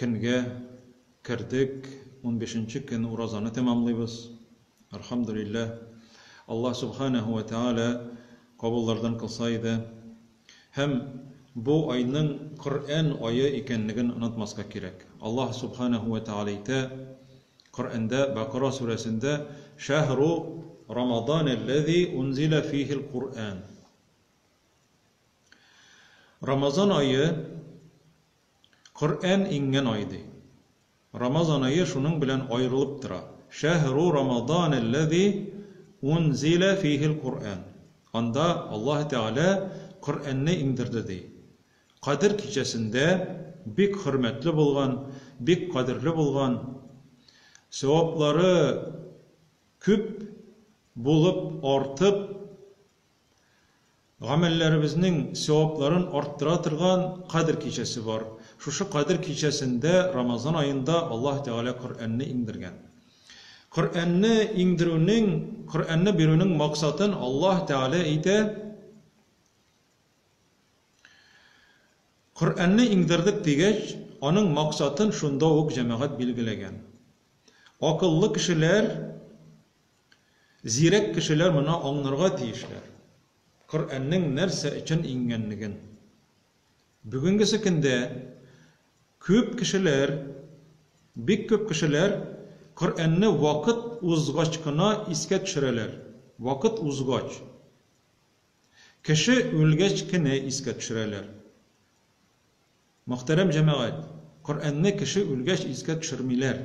Көнгә кердек, унбишенче көн уразаны тәмамлыйбыз. Әлхәмдүлилләһ. Аллаһ Сүбхәнәһү вә Тәгалә кабуллардан кылса иде. Һәм бу айның Коръән ае икәнлеген онытмаска кирәк. Аллаһ Сүбхәнәһү вә Тәгалә әйтә, Коръәндә, Бәкара сүрәсендә, Шәһру Рамаданәлләзи унзилә фиһил Коръән. Рамазан ае, Коръән иңгән ай ди. Рамазан ае шуның белән аерылып тора. Шәһру рамаданәлләзи унзилә фиһил Коръән. Анда Аллаһы Тәгалә Коръәнне иңдерде ди. Кадер кичәсендә бик хөрмәтле булган, бик кадерле булган, сәваплары күп булып, артып Гамәлләребезнең сәвапларын арттыра торган Кадер кичәсе бар. Шушы Кадер кичәсендә, Рамазан аенда Аллаһ Тәгалә Коръәнне иңдергән. Коръәнне иңдерүнең, Коръәнне бирүнең максатын Аллаһ Тәгалә әйтә, Коръәнне иңдердек дигәч, аның максатын шунда ук җәмәгать билгеләгән. Акыллы кешеләр Зирәк кешеләр моны аңнарга тиешләр, Коръәннең нәрсә өчен иңгәнлеген. Бүгенгесе көндә күп кешеләр, бик күп кешеләр Коръәнне вакыт узгач кына искә төшерәләр, вакыт узгач. Кеше үлгәч кенә искә төшерәләр. Мөхтәрәм җәмәгать, Коръәнне кеше үлгәч искә төшермиләр.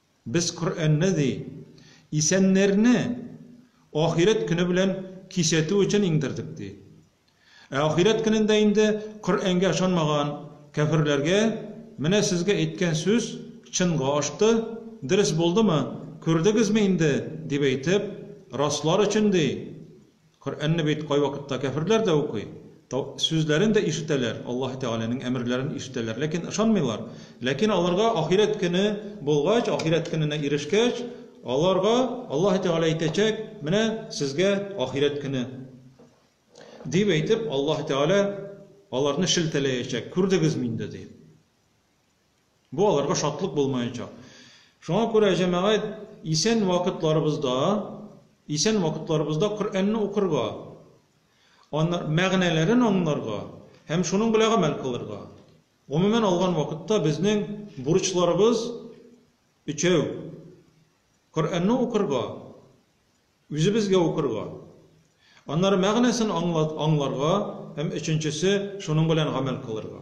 Без Коръәнне, ди, исәннәрне ахирәт көне белән кисәтү өчен иңдердек, ди. Ә ахирәт көнендә инде Коръәнгә ышанмаган кәферләргә менә сезгә әйткән сүз чынга ашты, дөрес булдымы, күрдегезме инде, дип әйтеп, раслар өчен, ди, Коръәнне бит кайвакытта кяферләр дә укый, тау сүзләрен дә ишетәләр, Аллаһы Тәгаләнең әмерләрен ишетәләр, ләкин ышанмыйлар. Ләкин аларга ахирәт көне булгач, ахирәт көненә ирешкәч, аларга Аллаһы Тәгалә әйтәчәк, Менә сезгә ахирәт көне! дип әйтеп, Аллаһы Тәгалә аларны шелтәләячәк, Күрдегезме инде? дип. Бу аларга шатлык булмаячак. Шуңа күрә, җәмәгать, исән вакытларыбызда, исән вакытларыбызда Коръәнне укырга, аны, мәгънәләрен аңларга һәм шуның белән гамәл кылырга. Гомумән алган вакытта безнең бурычларыбыз өчәү, Коръәнне укырга, үзебезгә укырга, аннары мәгънәсен аңлат, аңларга һәм өченчесе, шуның белән гамәл кылырга.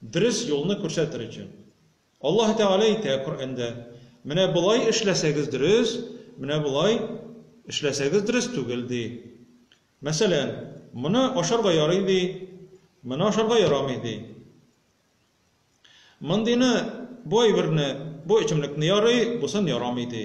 Дөрес юлны күрсәтер өчен. Аллаһ Тәгалә әйтә Коръәндә, Менә болай эшләсәгез дөрес, менә болай эшләсәгез дөрес түгел, ди. Мәсәлән, моны ашарга ярый, ди, моны ашарга ярамый, ди. Мондыйны, бу әйберне, бу эчемлекне ярый, бусын ярамый, ди.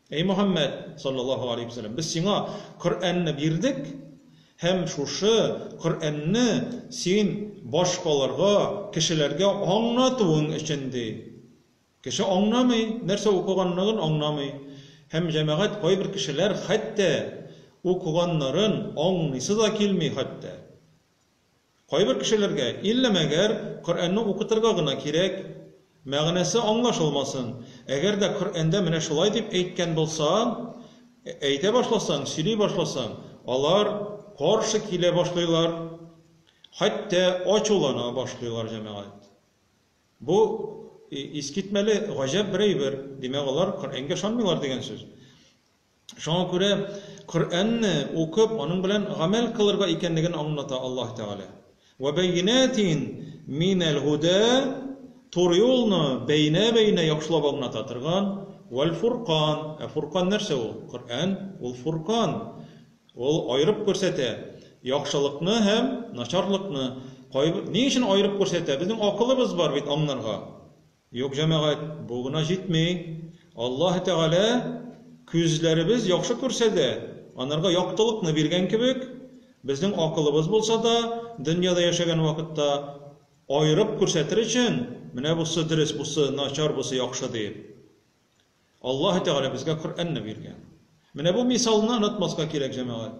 Әй Мөхәммәд, салләллаһу галәйһи вә сәлләм, без сиңа Коръәнне бирдек һәм шушы Коръәнне син башкаларга, кешеләргә аңлатуың өчен, ди. Кеше аңламый, нәрсә укыганлыгын аңламый. Һәм җәмәгать кайбер кешеләр хәтта укыганнарын аңлыйсы да килми хәтта. Кайбер кешеләргә, илле мәгәр, Коръәнне укытырга гына кирәк, мәгънәсе аңлашылмасын. Әгәр дә Коръәндә менә шулай дип әйткән булса, әйтә башласаң, сөйли башласаң, алар каршы килә башлыйлар, хәтта ачулана башлыйлар, җәмәгать. Бу искитмәле, гаҗәп бер әйбер, димәк, алар Коръәнгә ышанмыйлар дигән сүз. Шуңа күрә Коръәнне укып, аның белән гамәл кылырга икәнлеген аңлата Аллаһ Тәгалә. Вә бәйинәтин минәл һудә, туры юлны бәйнә-бәйнә яхшылап аңлата торган, вәл фуркан, ә фуркан нәрсә ул? Коръән, ул фуркан, ул аерып күрсәтә яхшылыкны һәм начарлыкны. Ни өчен аерып күрсәтә? Безнең акылыбыз бар бит аңларга. Юк, җәмәгать, бу гына җитми. Аллаһы Тәгалә күзләребез яхшы күрсә дә, анарга яктылыкны биргән кебек, безнең акылыбыз булса да, дөньяда яшәгән вакытта аерып күрсәтер өчен, менә бусы дөрес, бусы начар, бусы яхшы диеп, Аллаһы Тәгалә безгә Коръәнне биргән. Менә бу мисалны онытмаска кирәк, җәмәгать.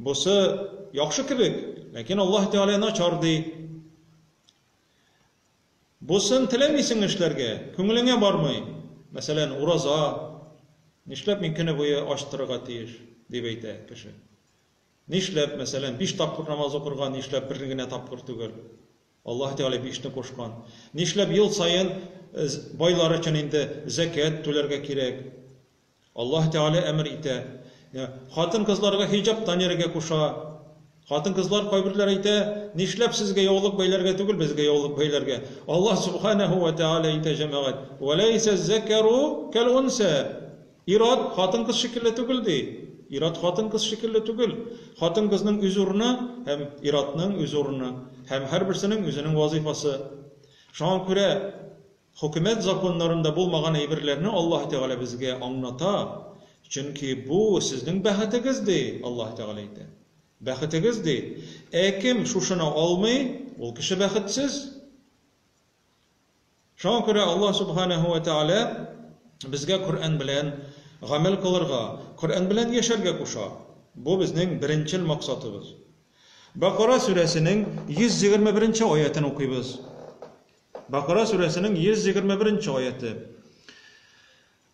Бусы яхшы кебек, ләкин Аллаһ Тәгалә начар ди. Бусын теләмисең эшләргә, күңелеңә бармый. Мәсәлән, ураза, нишләп мин көне буе ач торырга тиеш, дип әйтә кеше. Нишләп, мәсәлән, биш тапкыр намаз укырга, нишләп бер генә тапкыр түгел? Аллаһ Тәгалә бишне кушкан. Нишләп ел саен э, байлар өчен инде зәкят түләргә кирәк? Аллаһ Тәгалә әмер итә. Йә, хатын-кызларга хиҗап таниргә куша. Хатын-кызлар кайберләр әйтә, Нишләп сезгә яулык бәйләргә түгел, безгә яулык бәйләргә? Аллаһ Сүбхәнәһү вә Тәгалә әйтә, Җәмәгать, Вә ләйсә ззәкәру кәл-унсә. Ир-ат хатын-кыз шикелле түгел, ди. Ир-ат хатын-кыз шикелле түгел. Хатын-кызның үз урыны һәм ир-атның үз урыны. Һәм һәрберсенең үзенең вазыйфасы. Шуңа күрә, Хөкүмәт законнарында булмаган әйберләрне Аллаһы Тәгалә безгә аңната, чөнки бу, сезнең бәхетегез, ди, Аллаһы Тәгалә әйтә. Бәхетегез, ди. Ә кем шушыны алмый, ул кеше бәхетсез. Шуңа күрә Аллаһ Сүбхәнәһү вә Тәгалә безгә Коръән белән гамәл кылырга, Коръән белән яшәргә куша. Бу безнең беренчел максатыбыз. Бакара сүрәсенең 121 нче аятен укыйбыз. Бакара сүрәсенең 121 нче аяты.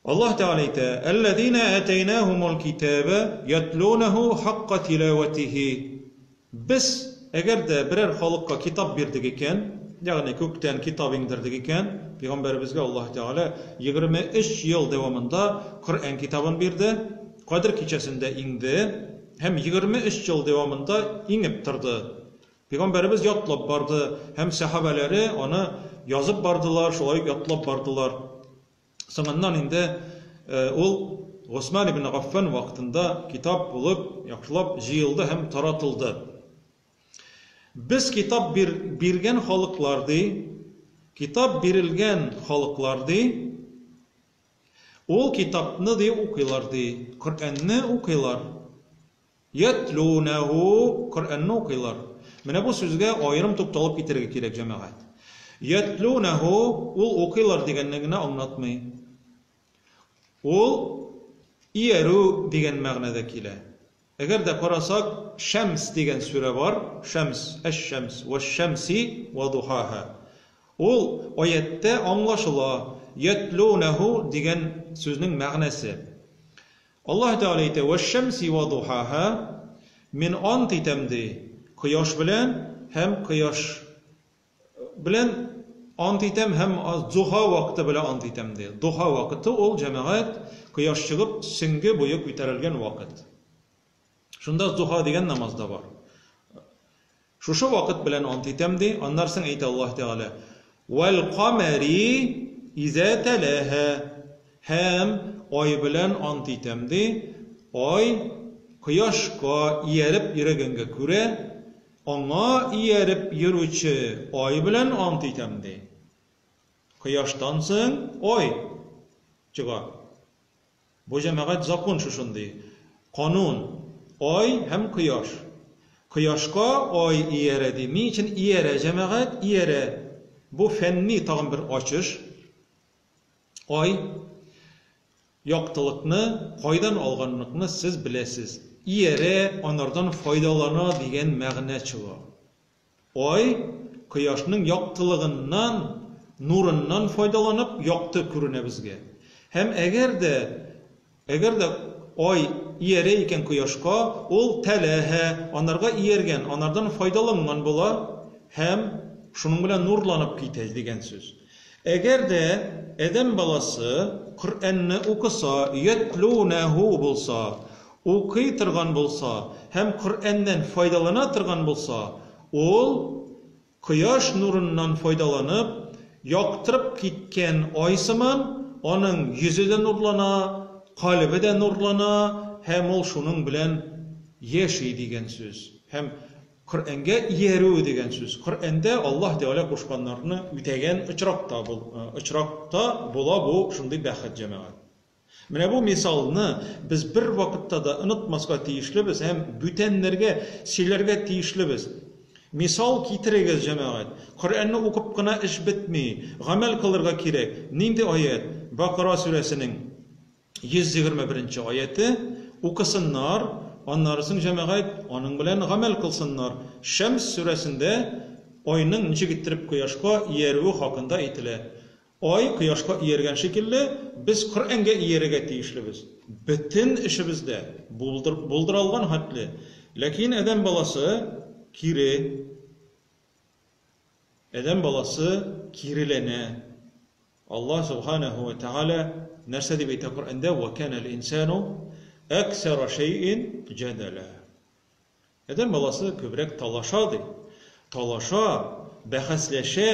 Аллаһ Тәгалә әйтә: "Әлләзинә атәйнәһумул китаба ятлунәһу хакка тилаватихи". Без, әгәр дә берәр халыкка китап бирдек икән, ягъни күктән китап иңдердек икән, пәйгамбәребезгә Аллаһ Тәгалә 23 ел дәвамында Коръән китабын бирде, Кадер кичәсендә иңде һәм 23 ел дәвамында иңеп торды. Пәйгамбәребез ятлап барды һәм сәхабәләре аны язып бардылар, шулай ук ятлап бардылар. Соңыннан инде ул Госман ибн Гаффан вакытында китап булып яхшылап җыелды һәм таратылды. Без китап бир, биргән халыклар ди, китап бирелгән халыклар ди, ул китапны ди укыйлар ди, Коръәнне укыйлар. Йәтлүнәһү, Коръәнне укыйлар. Менә бу сүзгә аерым тукталып китәргә кирәк, җәмәгать. Йәтлүнәһү, ул укыйлар дигәнне генә аңлатмый. Ул иярү дигән мәгънәдә килә. Әгәр дә карасак, Шәмс дигән сүрә бар, Шәмс, Әш-Шәмс, Вәш-Шәмси вә духаһа. Ул аятьтә аңлашыла, йәтлүнәһү дигән сүзнең мәгънәсе. Аллаһ Тәгалә әйтә, Вәшшәмси вә духаһа, Мин ант итәм, ди, кояш белән һәм кояш белән ант итәм һәм дзуха вакыты белән ант итәм, ди. Духа вакыты ул, җәмәгать, кояш чыгып, сөнге буе күтәрелгән вакыт. Шунда духа дигән намаз да бар. Шушы вакыт белән ант итәм ди, аннар соң әйтә Аллаһ Тәгалә, "Вәл камәри изә тәләһә" һәм ай белән ант итәм ди, ай кояшка ияреп йөрегәнгә күрә, аңа ияреп йөрүче ай белән ант итәм ди. Кояштан соң ай чыга. Бу җәмәгать закон шушындый. Канун, Ай һәм Кояш. Кояшка Ай иярә ди. Ни өчен иярә җәмәгать? Иярә. Бу фәнни тагын бер ачыш. Ай, яктылыкны кайдан алганлыкны сез беләсез. Иярә, анардан файдалана дигән мәгънә чыга. Ай, кояшның яктылыгыннан, нурыннан файдаланып, якты күренә безгә. Һәм әгәр дә, әгәр дә Ай иярә икән кояшка, ул тәләһә, анарга ияргән, анардан файдаланган була һәм шуның белән нурланып китә, дигән сүз. Әгәр дә адәм баласы Коръәнне укыса, йәтлүнәһү булса, укый торган булса һәм Коръәннән файдалана торган булса, ул, кояш нурыннан файдаланып, яктырып киткән ай сыман, аның йөзе дә нурлана, калебе дә нурлана һәм ул шуның белән яши дигән сүз һәм Коръәнгә иярү дигән сүз, Коръәндә Аллаһ Тәгалә кушканнарны үтәгән очракта бул, очракта була бу шундый бәхет, җәмәгать. Менә бу мисалны без бервакытта да онытмаска тиешлебез һәм бүтәннәргә сөйләргә тиешлебез. Мисал китерегез, җәмәгать. Коръәнне укып кына эш бетми, гамәл кылырга кирәк. Нинди аять? Бакыра сүрәсенең 121 нче аяте. Укысыннар, аннары соң җәмәгать аның белән гамәл кылсыннар. Шәмс сүрәсендә айның ничек иттереп кояшка иярүе хакында әйтелә. Ай кояшка ияргән шикелле, без Коръәнгә иярергә тиешлебез. Бөтен эшебез дә, булдыр, булдыралган хәтле. Ләкин адәм баласы, кире. Адәм баласы киреләнә. Аллаһ Субханәһү вә Тәгалә нәрсә дип әйтә Коръәндә, Вә кәнәл инсәну әксәра шәйин җәдәлә. Адәм баласы күбрәк талаша, ди. Талаша, бәхәсләшә.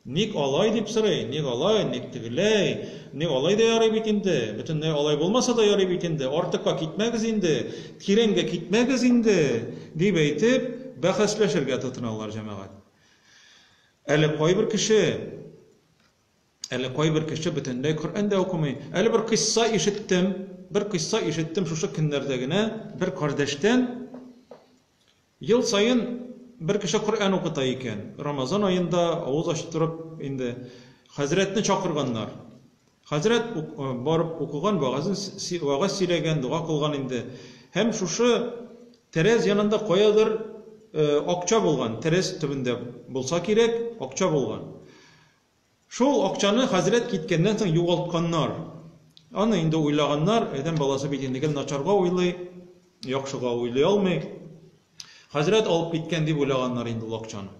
Ник алай дип сорый, ник алай, ник тегеләй, ник алай да ярый бит инде, бөтенләй алай булмаса да ярый бит инде, артыкка китмәгез инде, тирәнгә китмәгез инде, дип әйтеп, бәхәсләшергә тотыналар, җәмәгать. Әле кайбер кеше. Әле кайбер кеше бөтенләй Коръән дә укымый. Әле бер кыйсса ишеттем, бер кыйсса ишеттем шушы көннәрдә генә бер кардәштән, ел саен бер кеше Коръән укыта икән, Рамазан аенда авыз ачтырып инде хәзрәтне чакырганнар. Хәзрәт барып укыган, вәгазен, вәгазь сөйләгән, дога кылган инде. Һәм шушы тәрәз янында каядыр акча булган, тәрәз төбендә булса кирәк, акча булган. Шул акчаны хәзрәт киткәннән соң югалтканнар. Аны инде уйлаганнар, адәм баласы бит инде гел начарга уйлый, яхшыга уйлый алмый. Хәзрәт алып киткән дип уйлаганнар инде ул акчаны.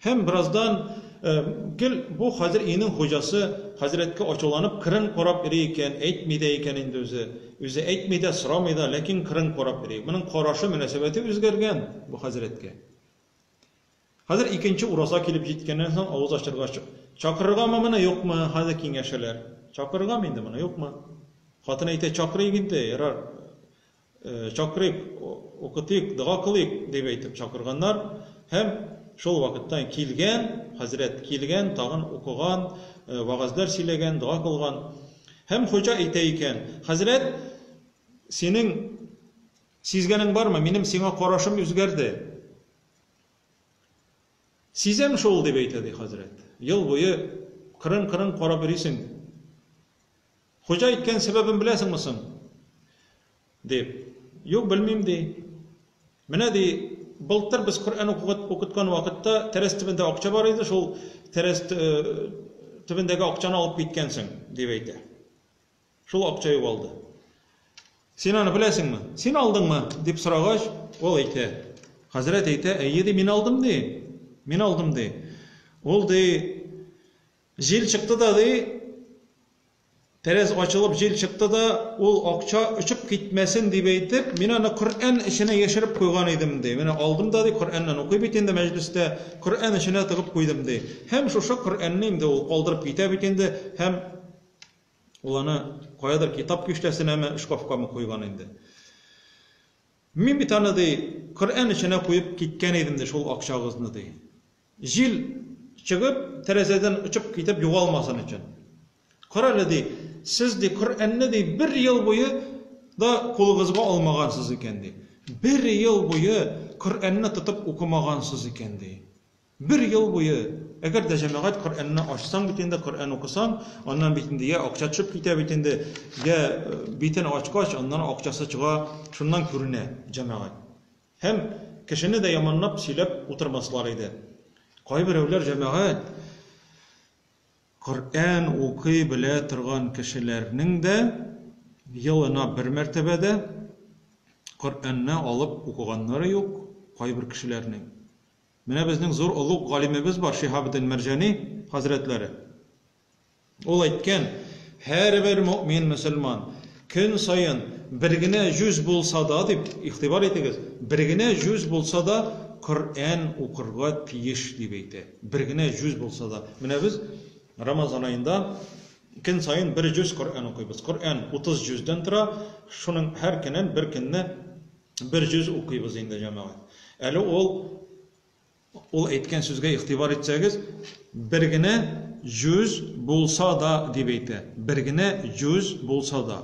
Һәм бераздан э, гел бу хәзер өйнең хуҗасы хәзрәткә ачуланып кырын карап йөри икән, әйтми дә икән инде үзе. Үзе әйтми дә, сорамый да, ләкин кырын карап йөри. Моның карашы, мөнәсәбәте үзгәргән бу хәзрәткә. Хәзер икенче ураза килеп җиткәннән соң авыз ачырга чык. Чакырыргамы моны, юкмы? Хәзер киңәшәләр. Чакырыргамы инде моны, юкмы? Хатын әйтә, Чакырыйк инде, ярар, чакырыйк, укытыйк, дога кылыйк, дип әйтеп чакырганнар. Һәм шул вакыттан килгән, хәзрәт килгән, тагын укыган, вәгазьләр сөйләгән, дога кылган. Һәм хуҗа әйтә икән, Хәзрәт, синең сизгәнең бармы, минем сиңа карашым үзгәрде. Сизәм шул, дип әйтә, ди хәзрәт. Ел буе кырын-кырын карап йөрисең. Хуҗа әйткән сәбәбен беләсеңме соң? дип. Юк, белмим, ди. Менә, ди, былтыр без Коръән укыткан вакытта тәрәз төбендә акча бар иде, шул тәрәз төбендәге акчаны алып киткәнсең, дип әйтә. Шул акча югалды. Син аны беләсеңме? Син алдыңмы? дип сорагач, ул әйтә. Хәзрәт әйтә, әйе ди, мин алдым ди. Мин алдым ди. Ул ди, җил чыкты да ди, тәрәз ачылып җил чыкты да, ул акча очып китмәсен дип әйтеп, мин аны Коръән эченә яшереп куйган идем ди. Менә алдым да ди, Коръәннән укый бит инде мәҗлестә, Коръән эченә тыгып куйдым ди. Һәм шушы Коръәнне инде ул калдырып китә бит инде, һәм Ул аны каядыр китап киштәсенәме, шкафкамы куйган инде. Мин бит аны, ди, Коръән эченә куеп киткән идем, ди, шул акчагызны, ди. Җил чыгып, тәрәзәдән очып китеп югалмасын өчен. Карале, ди, сез, ди, Коръәнне, ди, бер ел буе да кулыгызга алмагансыз икән, ди. Бер ел буе Коръәнне тотып укымагансыз икән, ди. Бер ел буе, әгәр дә җәмәгать Коръәнне ачсаң бит инде, Коръән укысаң, аннан бит инде йә акча төшеп китә бит инде, йә битен ачкач, аннан акчасы чыга, шуннан күренә җәмәгать. Һәм кешене дә яманлап сөйләп утырмаслар иде. Кайберәүләр җәмәгать Коръән укый белә торган кешеләрнең дә елына бер мәртәбә дә Коръәнне алып укыганнары юк, кайбер кешеләрнең. Менә безнең зур олуг галимебез бар, Шиһабетдин Мәрҗани хәзрәтләре. Ул әйткән, Һәрбер мөэмин, мөселман, көн саен бер генә җүз булса да, дип, игътибар итегез, бер генә җүз булса да Коръән укырга тиеш, дип әйтә. Бер генә җүз булса да. Менә без Рамазан аенда көн саен бер җүз Коръән укыйбыз. Коръән 30 җүздән тора, шуның һәр көнен бер көнне Бер җөз укыйбыз инде, җәмәгать. Әле ул ул әйткән сүзгә игътибар итсәгез, бер генә җүз булса да дип әйтә. Бер генә җүз булса да.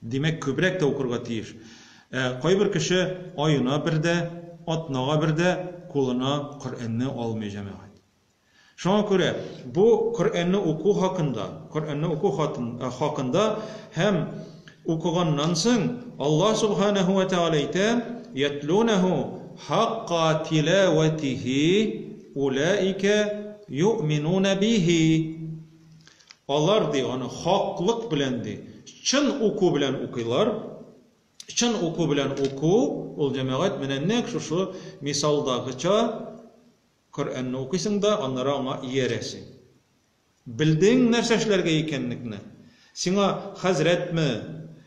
Димәк, күбрәк тә укырга тиеш. Ә кайбер кеше аена бер дә, атнага бер дә кулына Коръәнне алмый, җәмәгать. Шуңа күрә бу Коръәнне уку хакында, Коръәнне уку хакында һәм укыганнан соң Аллаһ Субханәһү вә Тәгалә әйтә, Йәтлүнәһү хакка тиләвәтиһи уләикә юъминуна биһи. Алар, ди, аны хаклык белән, ди, чын уку белән укыйлар. Чын уку белән уку, ул, җәмәгать, менә нәкъ шушы мисалдагыча, Коръәнне укыйсың да, аннары аңа иярәсең. Белдең нәрсә эшләргә икәннекне. Сиңа хәзрәтме,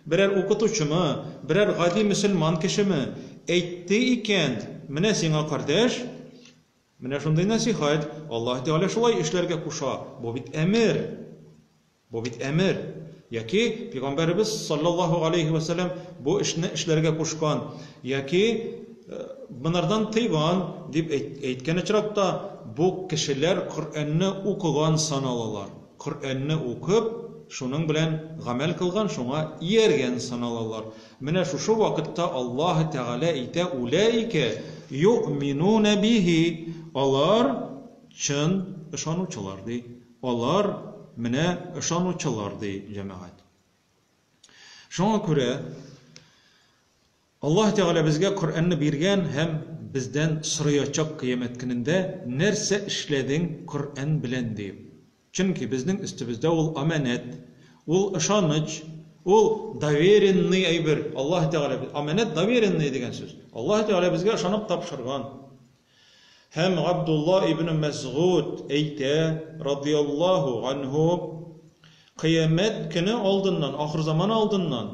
берәр укытучымы, берәр гади мөселман кешеме әйтте икән, менә сиңа, кардәш, менә шундый нәсыйхәт, Аллаһ Тәгалә шулай эшләргә куша, бу бит әмер. Бу бит әмер, яки Пигамбәребез салләллаһу галәйһи вә сәләм бу эшне эшләргә кушкан, яки монардан тыйган, дип әйткән очракта, бу кешеләр Коръәнне укыган саналалар. Коръәнне укып, шуның белән гамәл кылган, шуңа ияргән саналалар. Менә шушы вакытта Аллаһы Тәгалә әйтә, Уләйкә йо'минуна бихи, алар чын ышанучылар, ди. Алар, менә, ышанучылар, ди җәмәгать. Шуңа күрә Аллаһ Тәгалә безгә Коръәнне биргән һәм бездән сораячак кыямәт көнендә, Нәрсә эшләдең Коръән белән? диеп. Чөнки безнең өстебездә ул амәнәт, ул ышаныч, ул доверенный әйбер. Аллаһ Тәгалә, амәнәт, доверенный дигән сүз. Аллаһ Тәгалә безгә ышанып тапшырган. Һәм Габдулла ибне Мәсгуд әйтә, радияллаһу ганһу, Кыямәт көне алдыннан, ахырзаман алдыннан,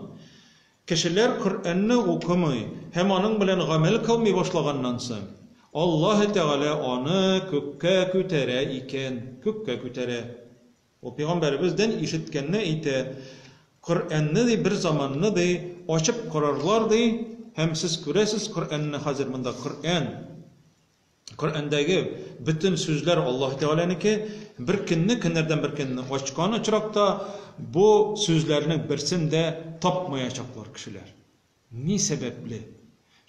кешеләр Коръәнне укымый һәм аның белән гамәл кылмый башлаганнан соң, Аллаһы Тәгалә аны күккә күтәрә икән, күккә күтәрә. Ул пәйгамбәребез ден ишеткәнне әйтә, Коръәнне, ди, бер заманны, ди, ачып карарлар, ди, һәм сез күрәсез Коръәнне хәзер монда, Коръән, Коръәндәге бөтен сүзләр Аллаһы Тәгаләнеке, бер көнне, көннәрдән бер көнне ачкан очракта бу сүзләрнең берсен дә тапмаячаклар кешеләр. Ни сәбәпле?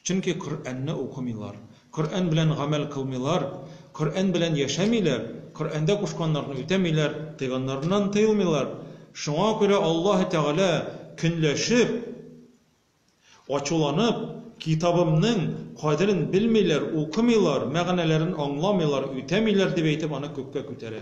Чөнки Коръәнне укымыйлар, Коръән белән гамәл кылмыйлар, Коръән белән яшәмиләр, Коръәндә кушканнарны үтәмиләр, тыйганнарыннан тыелмыйлар. Шуңа күрә Аллаһы Тәгалә, көнләшеп, ачуланып, Китабымның кадерен белмиләр, укымыйлар, мәгънәләрен аңламыйлар, үтәмиләр, дип әйтеп, аны күккә күтәрә.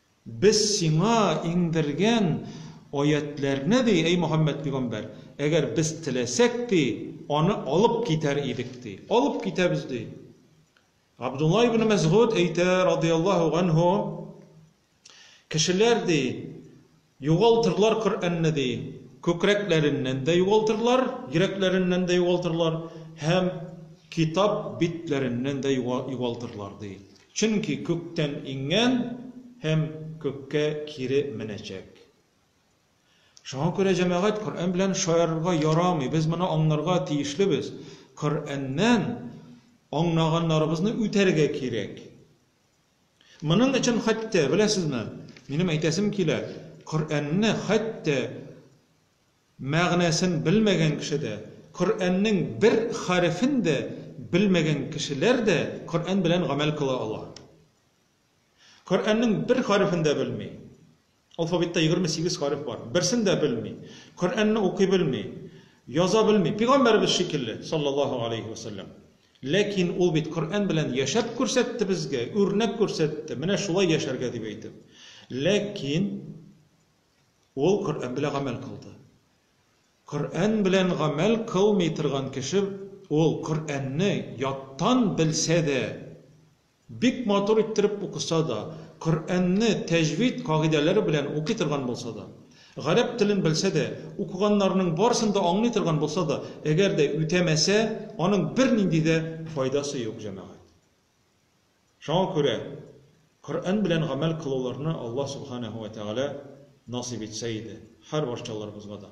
Без сиңа иңдергән аятьләрне, ди, әй Мөхәммәд пигамбәр, әгәр без теләсәк, ди, аны алып китәр идек, ди. Алып китәбез, ди. Габдулла ибне Мәсгуд әйтә, радый Аллаһу ганһу, Кешеләр, ди, Югалтырлар Коръәнне, ди, күкрәкләреннән дә югалтырлар, йөрәкләреннән дә югалтырлар һәм китап битләреннән дә югалтырлар, ди. Чөнки күктән иңгән һәм күккә кире менәчәк. Шуңа күрә, җәмәгать, Коръән белән шаярырга ярамый. Без моны аңларга тиешлебез. Коръәннән аңнаганнарыбызны үтәргә кирәк. Моның өчен хәтта, беләсезме, минем әйтәсем килә, Коръәнне хәтта мәгънәсен белмәгән кеше дә, Коръәннең бер хәрефен дә белмәгән кешеләр дә Коръән белән гамәл кыла ала. Коръәннең бер хәрефен дә белми. Алфавитта егерме сигез хариф бар. Берсен дә белми. Коръәнне укый белми. Яза белми. Пигамбәребез шикелле, саллаллаһу алейһи вә сәлләм. Ләкин ул бит Коръән белән яшәп күрсәтте безгә, үрнәк күрсәтте, менә шулай яшәргә дип әйтеп. Ләкин ул Коръән белән гамәл кылды. Коръән белән гамәл кылмый торган кеше, ул Коръәнне яттан белсә дә, Бик матур иттереп укыса да, Коръәнне тәҗвид кагыйдәләре белән укый торган булса да, гарәп телен белсә дә, укыганнарының барысын да аңлый торган булса да, әгәр дә үтәмәсә, аның бернинди дә файдасы юк, җәмәгать. Шуңа күрә Коръән белән гамәл кылуларны Аллаһ Субханәһү вә Тәгалә насыйп итсә иде, һәр барчаларыбызга да.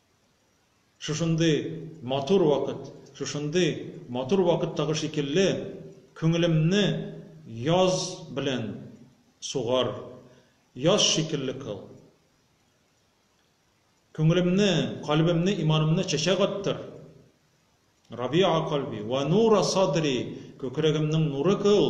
Шушындый матур вакыт, шушындый матур вакыттагы шикелле, күңелемне яз белән сугар, яз шикелле кыл. Күңелемне, кальбемне, иманымны чәчәк аттыр. Рабиа кальби, вә нура садри, күкрәгемнең нуры кыл.